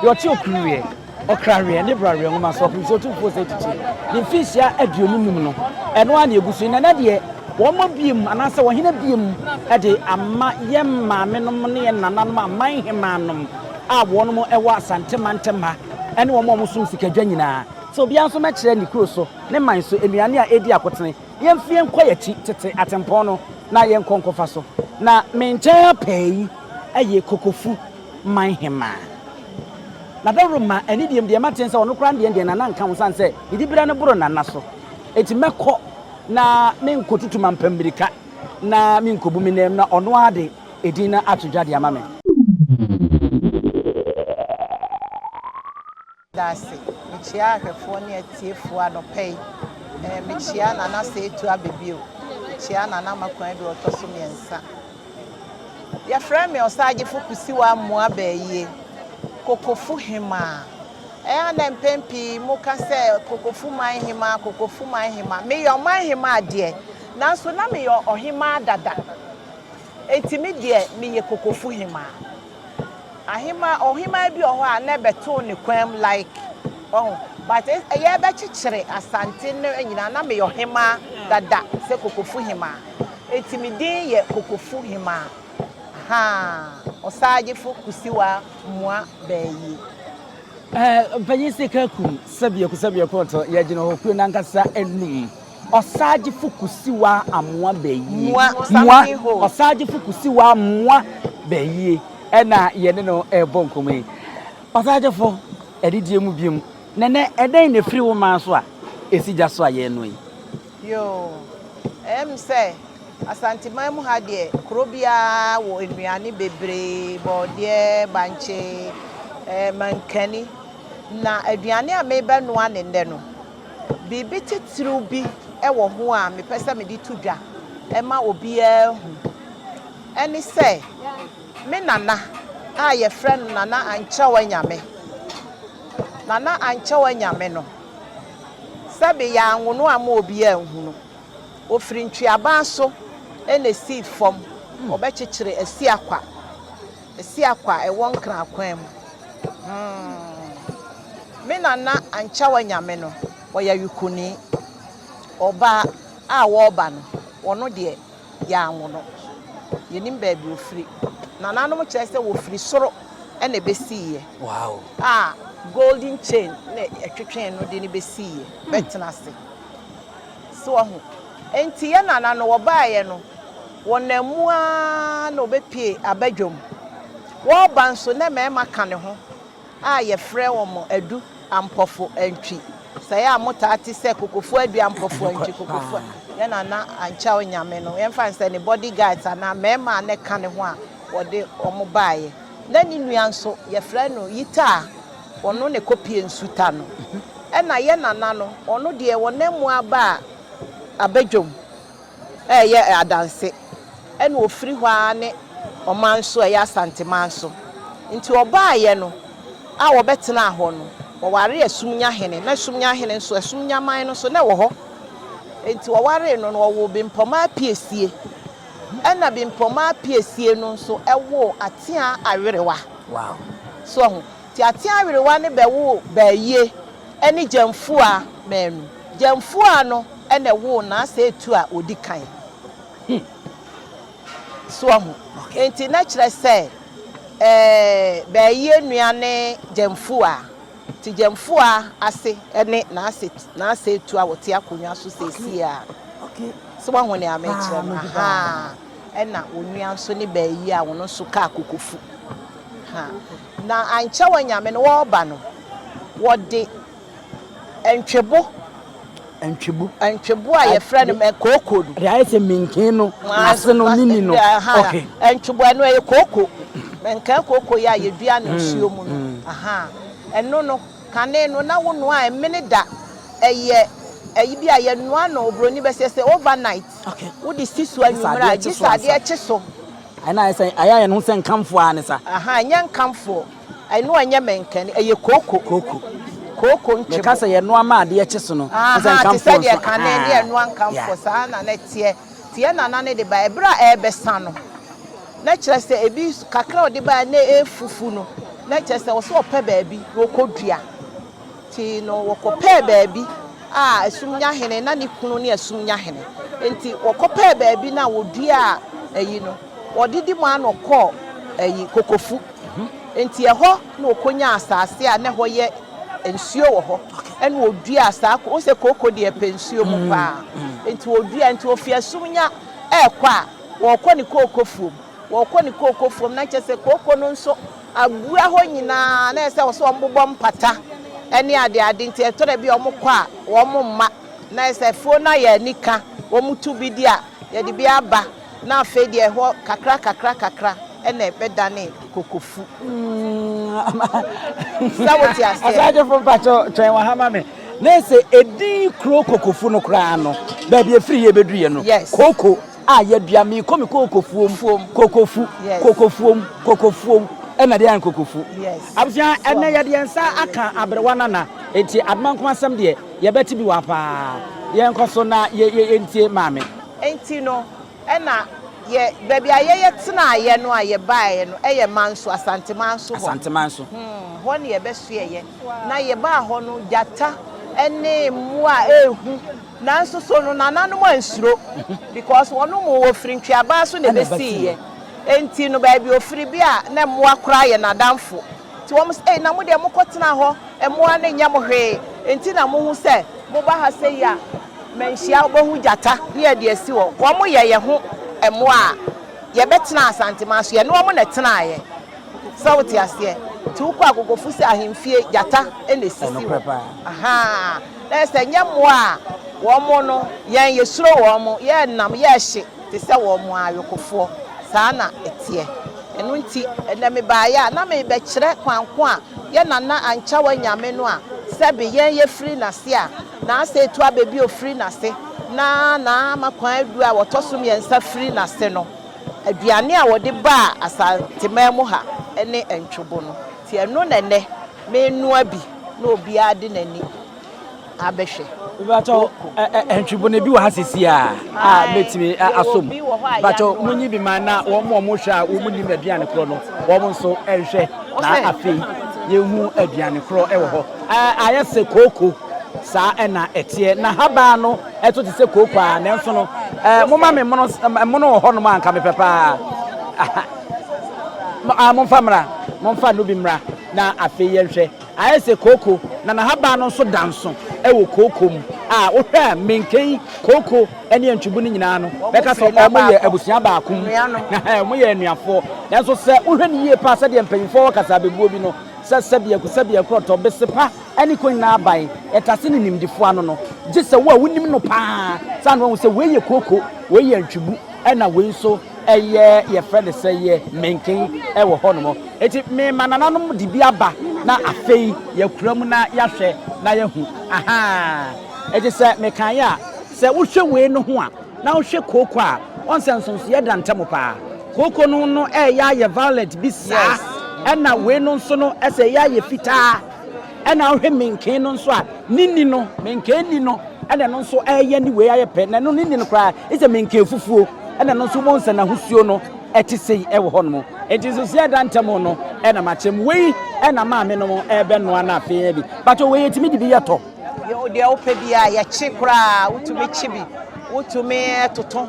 Deɛ ɔte okuruweɛ, ɔkraweɛ ne braweɛ nwoma so, ɔpem sɛ Otumfoɔ Osei Tutu ne mfinhyia aduonu num no, ɛno ara na ɛgu so yi. Na ɛnnɛ deɛ, wɔmmɔ biam anaasɛ wɔhene biam de ama yɛn maamenom ne yɛn nananom aman hemaanom a wɔnom wɔ Asante mantam ha ne wɔn a wɔsom sikadwa nyinaa sɛ obiara nso mmɛkyerɛ ne kuro so, ne man so nnuane a ɛredi akotene. Yɛmfi yɛnkɔ yɛakyi tete atempɔn no na yɛnkɔ nkɔfa so. Na me nkyɛn ha pɛɛ yi yɛ Kokofu. man hemmaa. Na dawuro ma ɛne deɛ deɛ mate sɛ ɔno koraa deɛ deɛ nana nka ho sane sɛ ne dibira no boro nana so eti mɛkɔ na menkɔtutu mampa mmirika na menkɔbu me nam na ɔno ara de edin no ato dwa de ama me. Meda ase. Mekyia ahwɛfoɔ ne atiefoɔ anɔpa yi. Mekyia Nana Seetu aba bio. Mekyia Nana Makuan deɛ ɔtɔ so mmiɛnsa. Yɛfrɛ me Ɔsaagyefo Kusiwa Amoah Bayie, Kokofu Hemaa. Ɛyɛ a na mpɛn pii moka sɛ Kokofu man hemaa, Kokofu man hemaa. Meyɛ ɔman hemaa deɛ, nanso na meyɛ ɔhemaa dada. Enti me deɛ meyɛ kokofo hemaa. Ahemaa ɔhemaa bi wɔ hɔ a na ɛbɛtoo ne kwanm like wahu but ɛyɛ bɛkyekyere Asante no nyinaa na meyɛ ɔhemaa dada sɛ kokofo hemaa enti me din yɛ kokofo hemaa ahaa Ɔsaagyefo Kusiwaa Mua Bayie. Ɛɛ Ɔpanyin Sekakum Sɛbiako Sɛbiako Ɔtɔ Yɛgyina Hɔ Kuro no Ankasa Anum Ɔsaagyefo kusiwa amoa bayie. Moa, ɔsaagyefo kusiwa amoa bayie ɛna yɛne no ɛrebɔ nkɔmmɔ yi. Ɔsaagyefo, adidie mu biom, nɛnɛ ɛdɛn na ɛfiri wo man so a ɛsi gya so a yɛrenoa yi? Yoo, ɛyɛ me sɛ Asanteman mu ha deɛ kuro biara wɔ nnuane bebree, bɔɔdeɛ, bankye, ɛɛ mankani. Na aduane a merebɛnoa no nnɛ no, Biribi titiriw bi wɔ ho a mepɛ sɛ mede to dwa ma obiara ahu. Ɛne sɛ, me nana a wɔfrɛ no Nana Ankyɛw Anyame, Nana Ankyɛw Anyame no, sɛbe yɛanwo no amma obiara anhu no, ofiri ntweaban so na esii fam, wɔbɛkyekyere Asiakwa. Siakɔ a ɛwɔ Nkran akwan mu. Hmmm. Me nana Anchawa Nyame no, ɔyɛ awikuruni. Ɔbaa a wɔreba no, ɔno deɛ yɛanwo no. Yɛnim baabi ɔfiri. Nananom kyerɛ sɛ wɔfiri soro na ɛbɛsiiɛ a golden chain na ɛtwetwee no de no bɛsiiɛ, bɛtena ase. So woahu? Enti yɛn nana no, ɔbaeɛ no. Wɔnam mu ara na ɔbɛpue aba dwam. Wɔreba nso na mmarima ka ne ho a yɛfrɛ wɔn Adu Ampɔfo Antwi. Sɛ yɛ a motaa te sɛ Kokofua Adu Ampɔfo Antwi, Kokofua, yɛn Nana Ankyɛw Nyame no, yɛmfa no sɛ ne body guards anaa mmarima a na ɛka ne ho a wɔde wɔn baeɛ. Na ne nua nso, yɛfrɛ no Yita a ɔno na ɛkɔpue Nsuta no. Ɛnna yɛn Nana no, ɔno deɛ wɔnam mu ara baa aba dwam. reyɛ adanse, ɛna ɔfiri hɔ ara ne ɔman so a ɛyɛ Asanteman so. Nti ɔbaeɛ no a ɔbɛtenaa hɔ no, ɔwaree Asumnya hene, na Asumnya hene nso, Asumnya man no nso na ɛwɔ hɔ. Nti ɔwaree no no, ɔwoo Bempɔmaa Apiesie, ɛna Bempɔmaa Apiesie no nso woo Ateaa Awerewa. So ahu? Teatea awerewa no bɛwoo Baayie ne Gyamfua mmaanu. Gyamfua no na ɛwoo Naasɛetu a ɔdi kan. Hmm. So wahu? Enti na kyerɛ sɛ ɛɛ Baayie nua ne Gyamfua. Nti Gyamfua ase ne Naasɛ Naasɛetu a ɔte akonnwa so seesei a. So wahu nea mekyerɛ no? Ahaa. Ɛna onua nso ne Baayie a ɔno nso kaa kokofu. Ha. Na ankyɛ w'anyame no wɔreba no, wɔde ntwebo. Ntwebo. Ntwebo a yɛfrɛ no mɛ kooko no. Deɛ ayɛ sɛ menkee no, n'ase no ne ni no. Okay. Ntwebo ɛno ɛyɛ kooko. Menkee kooko yi a yɛdua no nsuo mu no. Ɛno no, kane no na wonoa a ɛmene da. Ɛyɛ ɛyi bi a yɛnoa no, oburoni bɛseɛ sɛ overnight. Okay. Wode si so anwummerɛ a, gye sɛ adeɛ kye so Ɛno ayɛ sɛ, ayɛ ayɛ ne ho sɛ nkamfoɔ ara ne sa. Ahaa, ɛnyɛ nkamfoɔ. Ɛno ɛnyɛ mɛnkɛne, ɛyɛ kooko. Kooko. Kooko nkyebo. Meka sɛ yɛnoa ma adeɛ kye so no, ɛne sɛ nkamfoɔ nso. Ahaa, te sɛdeɛ kane ne ɛnoa nkamfoɔ, saa ara na na ɛteɛ. Nti yɛn nana no de baeɛ, berɛ a ɛrebɛsa no, na kyerɛ sɛ ebi, kakra a ɔde baeɛ no na ɛrefufu no, na kyerɛ sɛ ɔwɔ sɛ ɔpɛ baabi na ɔkɔdua. Ntsi no wɔkɔpɛɛ baabi a sum nya hene, na ne kunu ne sum nya hene. Ntsi wɔkɔpɛɛ baabi na woduaa ayi no, wɔde di mu ara na ɔkɔɔ ayi, Kokofu. Ntsi hɔ na okonyaa asaase a nna hɔ yɛ nsuo wɔ hɔ, nna oduaa saa, wohu sɛ kooko deɛ pɛ nsuo mu paa, ntsi oduaa, ntsi ofi asum nya ɛɛkɔ a, wɔɔkɔ ne kookofuom, wɔɔkɔ ne kookofuom, na nkyɛ sɛ kooko no nso abura hɔ nyinaa na ɛsɛ sɛ wɔsɛ wɔbobɔ mpata ne adeade nti ɛtɔ da bi a wɔkɔ a wɔn mma na ɛsɛ afuo no ayɛ anika wɔn tu bi di a yɛde bi aba na afei deɛ ɛhɔ kakra kakra kakra ɛna ɛbɛdane kokofu sɛ wote aseɛ. Asagyefo mpakyɛ twɛn wɔ ha ma me na ɛsɛ edin kuro kokofu no koraa no baabi efiri yɛ bɛduru yɛ no koko. a yɛdua, mekɔ me kokofuom, fuom, kokofu, yes. kokofuom, kokofuom, ɛna deɛ ayɛ kokofu. Yes. Abusua, ɛnɛ yɛde yɛn nsa aka aberewa nana, enti adoma nkoma asɛm deɛ yɛbɛte bi wa paa. Yɛnkɔ so na yɛ yɛ yɛntie maame. Enti no, ɛna yɛ baabi a yɛyɛ tenaeɛ no a yɛbaeɛ no ɛyɛ Manso, Asantemanso hɔ. Asantemanso. Hmm, hɔ ne yɛbɛsoɛeɛ. Na yɛbaa hɔ no, gyata ɛne mmoa a ɛrehu. Nanso so no nananom ansuro? Because wɔnom wɔ ofiri ntweabaa so na ɛbɛsiiɛ. Enti no baabi ofiri bi a na mmoa koraa yɛ nadamfo. Nti wɔn se, ei na mo deɛ mokɔ tenaa hɔ, mmoa no nyɛ mo hwee, enti na mohu sɛ moba ha sei a manhyia wobɛhu gyata ne yɛde asi hɔ. Wɔn yɛ yɛ ho mmoa a yɛbɛtena Asanteman so, yɛne wɔn na ɛtenaeɛ. Sɛ wote aseɛ? Nti wokɔ Agogofosu ahemfie, gyata na ɛsisi hɔ. Ahaa. Dɛ sɛ nnyɛ mbowa a, hɔn no, hɛn yesuro hɔn, yɛnam, yɛhye te sɛ hɔn ayokofoɔ. Saa na ɛteɛ. Ɛno nti, ɛnnɛ mebaeɛ a, na merebɛkyerɛ kwan ko a yɛn nana Anchawa anyame no a sɛbe yɛn yɛfiri n'ase a, n'asɛe to abɛ bio firi n'ase, na n'ama kwan adu a wɔtɔ so mmiɛnsa firi n'ase no. Aduane a wɔde baa Asanteman mu ha ne ntwobo no. Nti ɛno na ɛnnɛ. Menoa bi na obiara de n'ani abɛhwɛ. Bakyɛ ɛntwebo na ebi wɔ ha sisi a a mɛtumi asom. Bakyɛ mo nyi bi ma na wɔn a wɔn hwɛ a wɔn nim aduane korɔ no wɔn nso ɛnhwɛ na afei yɛn hu aduane korɔ ɛwɔ hɔ. Ayɛ se kooko saa ɛna ɛteɛ na habaa no ɛto te sɛ kooko a nanso no mo ma me mono mono wɔ hɔ nom a nka mepɛ paa. Mo a, momfa mmra. Momfa no bi mmra na afei yɛnhwɛ. Ayɛ sɛ kooko, na n'ahaban no nso da nso wɔ kooko mu. A, wohwɛ a, menken yi, kooko ne antwibu no nyinaa no, bɛka sɛ wɔyɛ abusua baako mu. Ahaa, wɔyɛ anuafoɔ. Nanso sɛ wohwɛ no yie paa, sɛdeɛ mpanyimfoɔ wɔ kasabebuo bi no, sɛ sɛbeaku, sɛbeakurɔtɔ, besepa ne ko nyinaa aban, ɛtase ne nimdefoɔ ano no, gye sɛ wo a wonim no paa saa na woahu sɛ wei yɛ kooko, wei yɛ antwibu. Ɛna wei nso yɛ yɛfrɛ no sɛ yɛ menken wɔ hɔnom. Enti mema nananom de bi aba na afei yɛakura mu na yɛahwɛ na yɛahu. Ahaa. Enti sɛ mekaeɛ a, sɛ wohwɛ wei no ho a, na wohwɛ kooko a, woahu sɛ nsonsoeɛ da ntam paa. Kooko no no reyɛ ayɛ violet bi saa. Ɛna wei no nso no sɛ reyɛ ayɛ fitaa. Ɛna wohwɛ menkee no nso a, ne nni no, menkee nni no, ɛna ɛno nso ɛyɛ ne wei ayɛ pɛ, na ɛno ne nni no koraa, ɛsɛ menkee fufuo, ɛna ɛno nso wobɛhu sɛ n'ahosuo no ɛte sei ɛwɔ hɔ nom. Enti nso sɛ ɛda ntɛm no ɛna makyɛ mu. Wei ɛna maame nom ɛbɛnoa no afei adi. Patɔ wei yɛtumi de bi yɛ tɔ? Deɛ wopɛ biara, yɛkye koraa, wotumi kye bi, wotumi toto.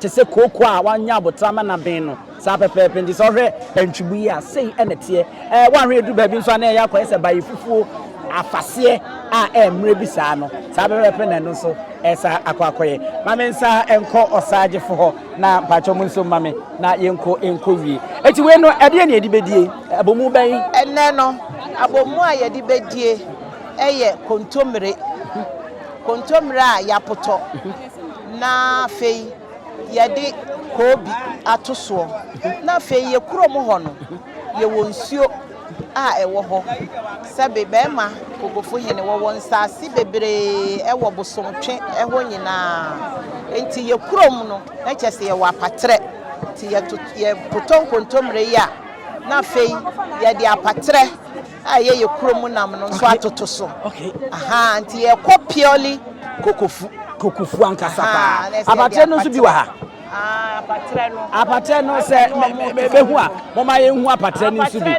Te sɛ kooko a wanya aboterɛ ama no aben no, saa pɛpɛɛpɛ nti sɛ wohwɛ antwibu yi a, sei na ɛteɛ. Ɛɛ, woanhwɛ ɛduru baabi nso a na ɛyɛ akɔyɛ sɛ baefufuo afaseɛ a ɛyɛ mmerɛ bi saa no, saa pɛpɛɛpɛ na ɛno nso ɛresan akɔ akɔyɛ. Ma me nsan nkɔ ɔsagyefo hɔ na mpakyɛ mo nso mma me na yɛnkɔ nkɔwie. Enti wei no, ɛdeɛn na yɛde bɛdie? Abomu bɛn? Ɛnnɛ no, abomu a yɛde bɛdie yɛ kontommire, kontommire a yɛapotɔ. Na afei yɛde koobi ato soɔ, na afei yɛ kurom hɔ no, yɛwɔ nsuo a ɛwɔ hɔ, sɛbe bɛɛma Kogofo hene, wɔwɔ nsaase bebree ɛwɔ Bosomtwe hɔ nyinaa, enti yɛ kurom no na kyerɛ sɛ yɛwɔ apaterɛ, nti yɛtotɔ nkontomire yɛ a, na afei yɛde apaterɛ. a ɛyɛ yɛ kuro mu nam no nso atoto so ahaa nti yɛkɔ purely kokofu kokofu ankasa paa apatrɛ no nso bi wɔ ha apatrɛ no sɛ bɛhu a mɔma yɛhu apatrɛ no nso bi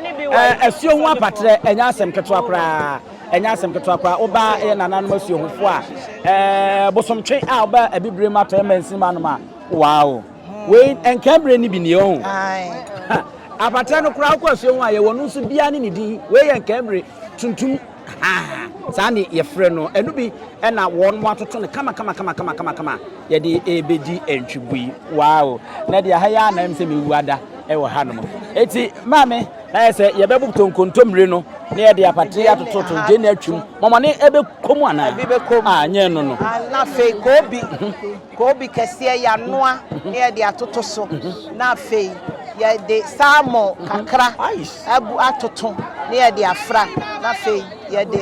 asuo ho apatrɛ ɛnyɛ asɛm ketewa koraa ɛnyɛ asɛm ketewa koraa woba yɛ nananom asuohofoɔ a bosomtwe a woba abibire mu atɔ ɛma nsinima nom a wow Wei nka bere no bi nie ɔho. Apatrɛ no koraa wokɔ asuo ho a yɛwɔ no nso biara ne ne din. Wei yɛ nka bere tuntum saa ne yɛfrɛ no. Ɛno bi ɛna wɔn mo atoto no kama kama kama kama kama kama yɛde ɛbɛdi ntwibui. Wow! Na deɛ ha yɛ anam sɛ mewu ada ɛwɔ ha nom. Eti maame na yɛ sɛ yɛbɛbo to nkontommire no na yɛde apatrɛ atoto to gye na atwim. Mɔmɔne ɛbɛkɔ mu anaa? Ɛbi bɛkɔ mu. Ah, nyɛ no no. Na afei koobi. Koobi kɛseɛ yɛanoa na yɛde atoto so na afei yɛde salmon kakra agu atoto na yɛde afra na afei yɛde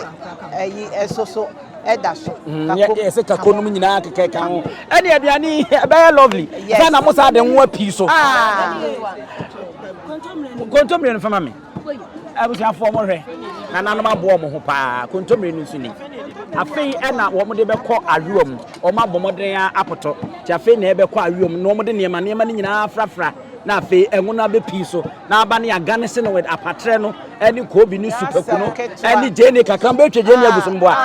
ɛyi ɛso so ɛda so. Kako. Yɛ sɛ kako nom nyinaa kɛkɛ ka ho. Ɛne aduane yi ɛbɛyɛ lovely. Yes. Ɛna mo saa de nwoa pii so. Ah. Kontomire no fa ma me. Abusuafoɔ mo hwɛ, nananom aboa wɔn ho paa, kontommire no nso ni. Afei na wɔn de bɛkɔ ayowa mu, wɔn abɔ mmɔden ara apotɔ, nti afei na ɛbɛkɔ ayowa mu na wɔn de nneɛma nneɛma no nyinaa afrafra, na afei ɛngo no abɛpii so, na aba ne agane se no with apatrɛ no ne koobi ne supaku no ne gyeene kakra, wɔn bɛtwa gyeene agu so mboa,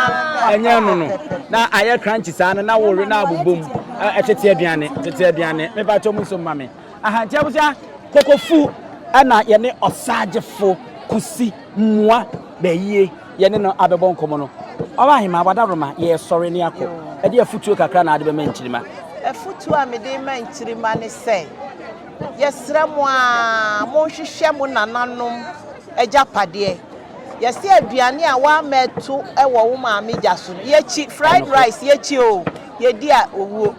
ɛnyɛ ɛno no, na ayɛ crunchy saa no na wɔwe na abobɔ mu, ɛtete aduane, tete aduane, mepa kyɛw mo nso mma me. Ahankyɛwgya Kokofu na yɛne Ɔsagyefo Kosi Mua Bayie yɛne no abɛbɔ nkɔmmɔ no. Ɔbahema, w'adaworoma, yɛresɔre na yɛakɔ. Ɛdeɛn afotuo kakra na wode bɛma Nkyirima? Afotuo a mede rema Nkyirima ne sɛ, yɛsrɛ mo ara monhwehwɛ mo nananom agyapadeɛ. Yɛse aduane a woamma ɛto wɔ wo maame gya so no, yɛkyi. Fried rice, yɛkyi oo, yɛdi a owuo.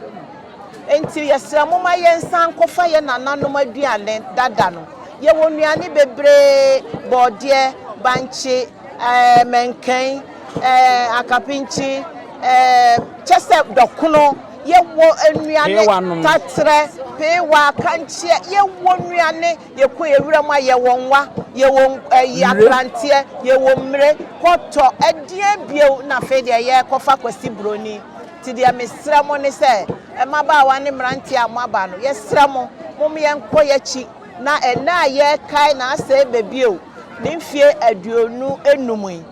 Enti yɛsrɛ mo ma yɛnsan nkɔfa yɛn nananom aduane dada no. Yɛwɔ nnuane bebree, borɔdeɛ, bankye, eh, mɛnkɛn, eh, akapinkyi, eh, kyɛ sɛ dɔkono. Yɛwɔ nnuane taterɛ, peewa, kankyeɛ, yɛwɔ nnuane, yɛkɔ yɛn wuram a yɛwɔ nwa, yɛwɔ eh, akranteɛ, yɛwɔ mmire, kɔtɔ, ɛdeɛ bio na afei deɛ yɛrekɔfa kwasi buroni. Nti deɛ mesrɛ mo ne sɛ, mmabaawa ne mmeranteɛ a moaba no, yɛsrɛ mo, mom yɛnkɔ y'akyi na ɛnnɛ a yɛrekae n'asɛe bɛ bio, ne mfie aduonu nnum yi.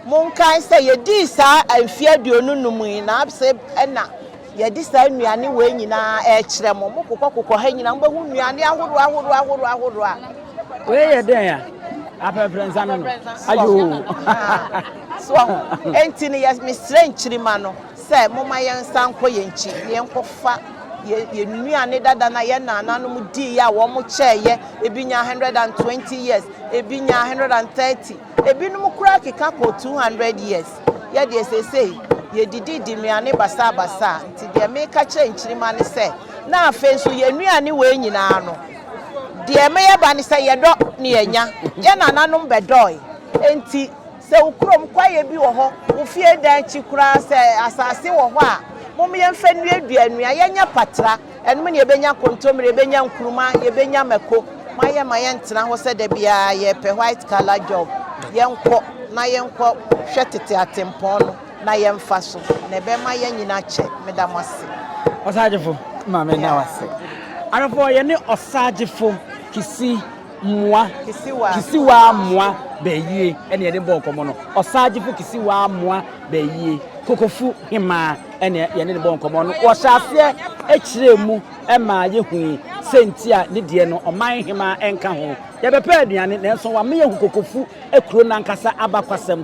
Monkae sɛ yɛdii saa mfie aduonu nnum yi n'absɛe ɛna yɛde saa nnuane wei nyina ara rekyerɛ mo. Mokokɔkokɔ ha nyina ara, mobɛhu nnuane ahoroɔ ahoroɔ ahoroɔ ahoroɔ a. Wei yɛ dɛn a? Aprɛprɛnsa no no? Ayoo! So wahu? Enti no, yɛ, mesrɛ nkyirimma no sɛ momma yɛnsan nkɔ yɛn nkyi na yɛnkɔfa yɛn, yɛn nnuane dada no a yɛn naananom diiɛ a wɔn kyɛɛeɛ, ebi nyaa hundred and twenty years, ebi nyaa hundred and thirty, ebinom koraa keka kɔɔ two hundred years. Yɛ deɛ seesei yɛdididi nnuane basaa basaa, nti deɛ meka kyerɛ nkyirimma no sɛ, na afei nso yɛn nnuane wei nyinaa no, deɛ ɛma yɛba ne sɛ yɛdɔ na yɛnya, yɛn naananom bɛdɔɔe, enti. Sɛ wo kurom kwaeɛ bi wɔ hɔ, wo fie dan akyi koraa, sɛ asase wɔ hɔ a, mom yɛmfa nnuadua nnua, yɛnyɛ patra, ɛnom na yɛbɛnya kontommire, yɛbɛnya nkuruma, yɛbɛnya mako, moayɛ ma yɛntena hɔ sɛ da biara yɛpɛ white color job, yɛnkɔ na yɛnkɔ hwɛ tete atempɔn no na yɛmfa so, na ɛbɛma yɛanyini akyɛ, meda mo ase. Ɔsagyefo, Mame da wo ase. Ahwɛfoɔ, yɛne Ɔsagyefo Kissi. mmoa kisiwaa mmoa bɛɛyie ɛne yɛde bɔɔ nkɔmmɔ no ɔsaagyefo kisiwaa mmoa bɛɛyie kokofu hemaa ɛne yɛne ne bɔɔ nkɔmmɔ no wɔhyɛ aseɛ ɛkyerɛɛ mu ɛmaa yɛhui sɛnti a ne deɛ no ɔman hemaa ɛnka ho yɛbɛpɛ aduane nanso wame yɛhu kokofu kuro no ankasa abakwasɛm